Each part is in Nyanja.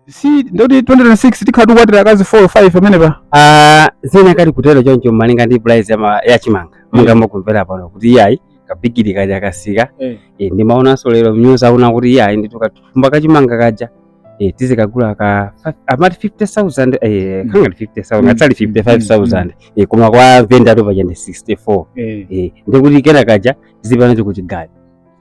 si ndoti 2026 tikhala tikukwatira akazi 4 5 pamenepa Ah, zinakati kutero choncho malinga ndi price ya, ma- ya chimanga monga mukumvera pano kuti iyayi kabigiri kaja kasika Eh. eh, ndimaonanso lero mnyuzi akuti kuti iyayi ndithu kathumba ka chimanga kaja eh, tizikagula ka fa- amati 50000 eh, Mm. kangati 50000 Mm. atsali 55000 eh, koma kwa venda atopa chende 64 eh, eh, ndikuti kena kaja tizipana tikuchigayo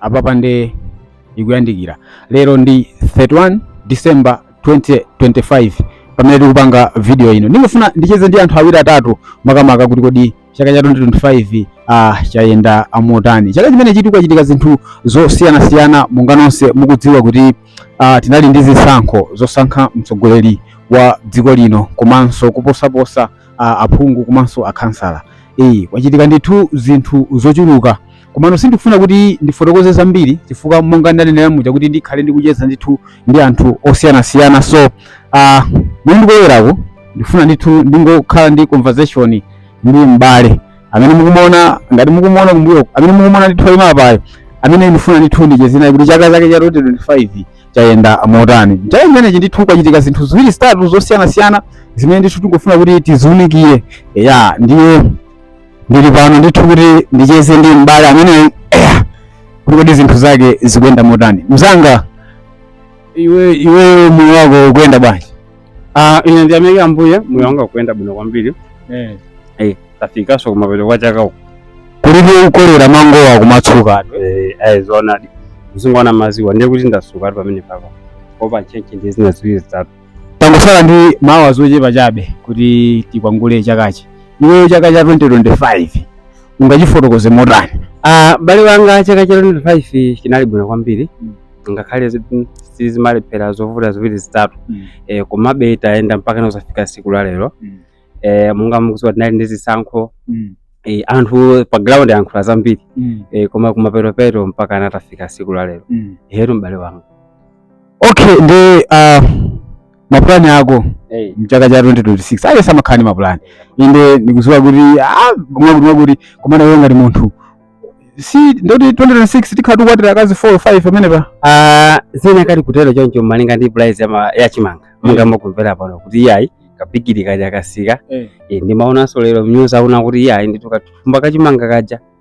apapa nde ikuyandikira lero ndi 31 december 2025 pamene tikupanga video ino ndikungofuna ndicheze ndi anthu awiri atatu makamaka kuti kodi chaka cha 2025 ah, chayenda motani chaka chimenechitu kwachitika zinthu zosiyanasiyana monga nonse mukudziwa kuti ah, tinali ndi zisankho zosankha mtsogoleri wa dziko lino komanso kuposaposa ah, aphungu komanso akhansala iyayi kwachitika ndithu zinthu zochuluka komano sindikufuna kuti ndifotokoze zambiri chifukwa monga ndanenera muja kuti ndikhale ndikucheza ndithu ndi anthu osiyanasiyana so uh, mukundionerako ndifuna ndithu ndingokhala ndi conversation ndi m'bale amene mukumuona ngati mukumuona kumbuyo amene mukumuona ndithu ali apayo amene ndifuna ndithu ndicheze naye kuti chaka chake cha 2025 chayenda motani chaka chimenechi ndithu kwachitika zinthu ziwiri zitatu zosiyanasiyana zimene ndithu tingofuna kuti tiziunikire ya ndiye ndili pano ndithu kuti ndicheze ndi m'bale amene eya, kuti kodi zinthu zake zikuyenda motani mzanga iwe iwe moyo wako ukuyenda bwanji Ah, ine ndiyamika ambuye moyo wanga ukuyenda bwino kwambiri eh tafikanso kumapeto kwa chaka uku kulibe ukolera mangowa kumatsuka eh ayi zoonadi mzingo wana maziwa ndiye kuti ndatsuka ali pamene papa kuopa ntchentche ndi zina ziwiri zitatu Tangotsala ndi maawazi ochepa chabe kuti tikwangwanule chakachi. Iweyo chaka cha 2025 ungachifotokoze motani? Ah, bale wanga chaka cha 2025 chinali bwino kwambiri Mm. ngakhale zi- mm, sizimalephera zovuta ziwiri zitatu eh, komabe tayenda mpaka nkudzafika siku la lero Mm. eh, monga mukudziwa tinali ndi zisankho eh, anthu pa ground ayankhula zambiri eh, koma kumapetopeto mpaka ana tafika siku la lero hero m'bale wanga okay ndi uh, mapulani ako Eh, mchaka cha 2026 aliyense amakhala ndi mapulani inde ndikuziwa kuti ah, mwa kuti mwa kuti komana iwe ngati munthu si ndoti 2026 tikhala tikukwatira akazi 4 5 pamenepa ah, zinakati kutero choncho malinga ndi price ya ma- ya chimanga monga mukumvera pano kuti iyayi kabigiri kaja kasika Eh. Eh, ndimaonanso lero mnyuzi akuti kuti iyayi ndithu kathumba kachimanga kaja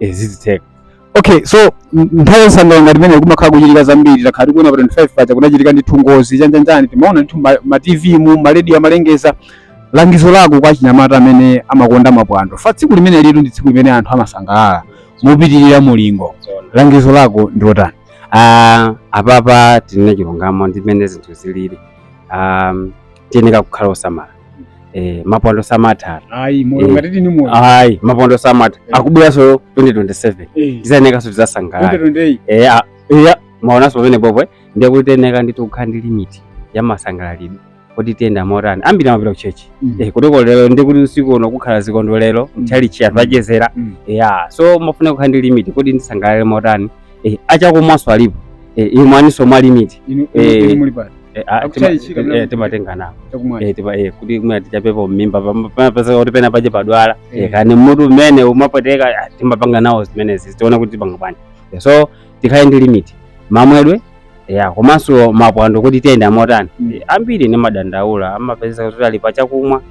eh, zizitheka okay so m- nthawi yosangalala ngati imene kumakhala kuchitika zambiri takhala tikuona pa 25 paja kunachitika ndithu ngozi chanjanjani timaona ndithu ma- ma tv mu maredio amalengeza langizo lako kwa achinyamata amene amakonda mapwando chifukwa tsiku limeneli tu ndi tsiku limene anthu amasangalala mopitirira mulingo langizo lako ndi lotani Ah, apapa tinene chilungamo ndi mmene zinthu zilili um, tiyeneka kukhala osamala eh, mapwando samatha ayi moyo Eh. ngati tili ni moyo ayi mapwando samatha Eh. akubweranso 2027 Eh, tizayenekanso tizasangalala 2028. Eh, ah, iya mawanso pamenepopo ndiye kuti tiyeneka ndithu kukhala ndi limiti ya masangalalidwe kuti tiyenda motani ambiri amapita kuchechi Mm. Eh, poti lero ndi kuti usiku uno kukhala zikondwerero Mm. mtchalitchi anthu achezera Mm. ya so mufune kukhala ndi limiti kuti ndisangalale motani Eh, a chakumwanso alipo Eh, imwaninso mwa limiti Inu- inu- Eh. inu muli pati Eh, ah, Akuchaya tima- chika mna- eh, timatenga nawo chakumwacha Eh, tipa- eh, kuti mwina tichapepo mmimba pam- pamapezeka kuti pena pache padwala Eh. Eh, kani mutu umene umapweteka ah, timapanga nawo zimenezi tiona kuti tipanga bwanji Eh, so tikhale ndi limit mamwedwe ya komanso mapwando kuti tiyenda motani Mm. Eh, ambiri nimadandaula amapezeka kuti ali pa chakumwa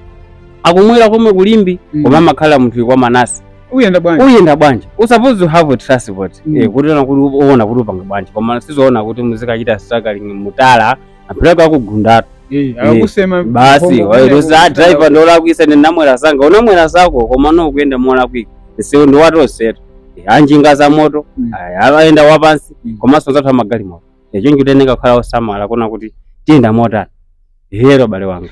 akumwera komwe ku Limbe Mm. koma amakhala munthu kwa Manase uyenda bwanji uyenda bwanji u suppose uhave transport mm. eh, kuti uona kuti uona kuti upanga bwanji koma sizoona kuti muzikachita struggling mutala apeleka akugundatu eh, eh, basi wayiluza driver ndi wolakwitsa ndinamwera zanga unamwera zako komano kuyenda molakwika msewu ndi wa tonsetu anjinga za moto mm. oyenda wapansi mm. komanso anzathu amagalimoto choncho tiyeneka kukhala osamala kuona kuti tiyenda motani hello abale anga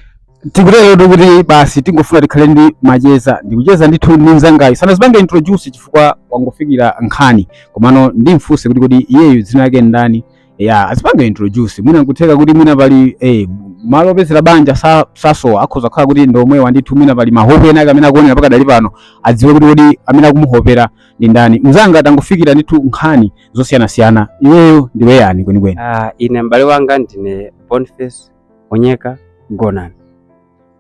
tikuterotu kuti basi tingofuna tikhale ndi macheza ndikucheza ndithu ndi mzangayo sanazipange introduce chifukwa wangofikira nkhani komano ndimfunse kuti kodi iyeyu dzina lake ndani ya azipange introduce mwina nkutheka kuti mwina pali eh, malo opezera banja sa- sasowa akhoza kukhala kuti ndi omwewa ndithu mwina pali mahope ena ake amene akuonera pakadali pano adziwe kuti kodi amene akumuhopera ndi ndani? Mzanga tangofikira ndithu nkhani zosiyanasiyana, iweyo ndiwe yani kwenikweni? Ah, ine m'bale wanga ndine Boniface Onyeka Gonani.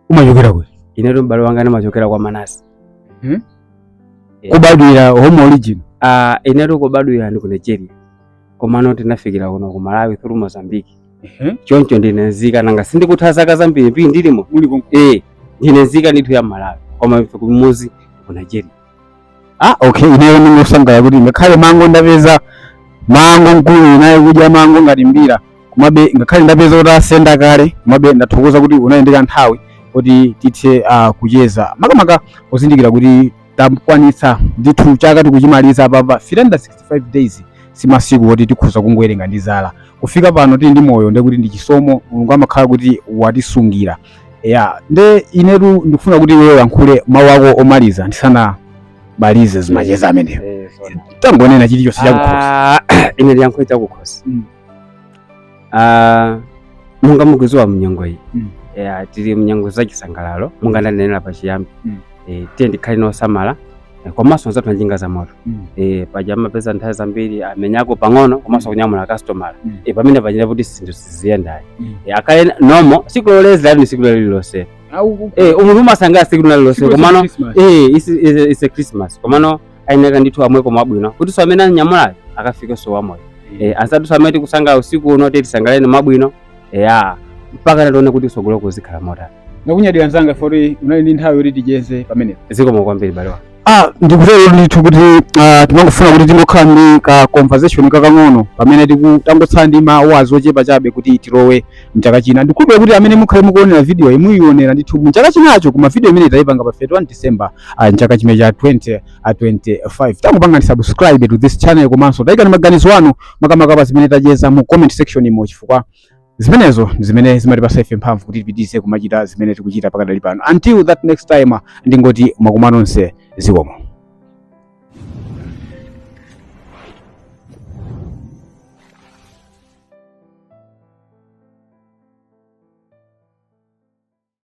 Umachokera kuti? Inetu m'bale wanga ndimachokera kwa Manase. Hmm? Yeah. Kubadwira home origin? Ah, inetu kubadwira ndi ku Nigeria. Komano tinafikira kuno ku Malawi through Mozambique. Mhm. Choncho ndine nzika nanga sindikutha zaka zambiri pii ndilimo. Muli konko. Eh, ndine nzika ndithu ya Malawi. Koma ife kumuzi ku Nigeria. ah okay ineyo ndingosangalala kuti ngakhale mango ndapeza mango mkuluyu naye kudya mango ngati mbira komabe ngakhale ndapeza kuti asenda kale komabe ndathokoza kuti unali ndi kanthawi kuti tithe uh, kucheza makamaka pozindikira kuti takwanitsa ndithu chaka tikuchimaliza apapa 365 days si masiku oti tikhoza kungowerenga ndi zala kufika pano tili ndi moyo ndekuti ndi chisomo mulungu amakhala kuti watisungira ya nde inetu ndikufuna kuti iwe uyankhule mawu ako omaliza ndisanabalize zimacheza amenewa Eh, zona. tangonena chilichonse chakukhosi Ah, ine ndiyankhule chakukhosi Mm. Ah, munga mukuziwa mnyengo iyi Mm. Eh, tili mnyengo zachisangalalo munga ndanenera pachiyambi Mm. Eh, tiyeni tikhale osamala Eh, komanso anzathu a njinga za moto mm. eh, paja amapeza nthawi zambiri amenyeko pang'ono komanso mm. kunyamula customer mm. eh, pamene zachita kuti zinthu siziyenda ayi mm. eh, kale lomwe siku loledzera ndi siku lililonse eh, munthu umasangala siku lililonse komano eh, is a christmas komano ayeneka ndithu amweko mwabwino kuti so amene amunyamulayo akafikenso wamoyo mm. eh, anzathu amene tikusangala usiku uno tisangaleni mwabwino eya mpaka ndi tione kuti tsogolo kuzikhala motani Ndakunyadira nzanga poti unali ndi nthawi yoti ticheze pamenepo. zikomo kwambiri bale wanga Ah, ndikutero ndithu kuti ah, timangofuna kuti tingokhala ndi ka conversation kakang'ono pamene tiku- tangotsala ndi ma hours ochepa chabe kuti tilowe mchaka china ndikhulupirira kuti amene mukhale mukuonera video iyi muyionera ndithu mchaka chinacho koma video imene taipanga pa 31 december ah, mchaka chimene cha 20 a 25 tangopangani subscribe to this channel komanso tayikani maganizo anu makamaka pa zimene tacheza mu comment section umo chifukwa zimenezo ndi zimene zimatipasa ife mphamvu kuti tipitirize kumachita zimene tikuchita pakadali pano until that next time ndingoti mwakumva nonse zikomo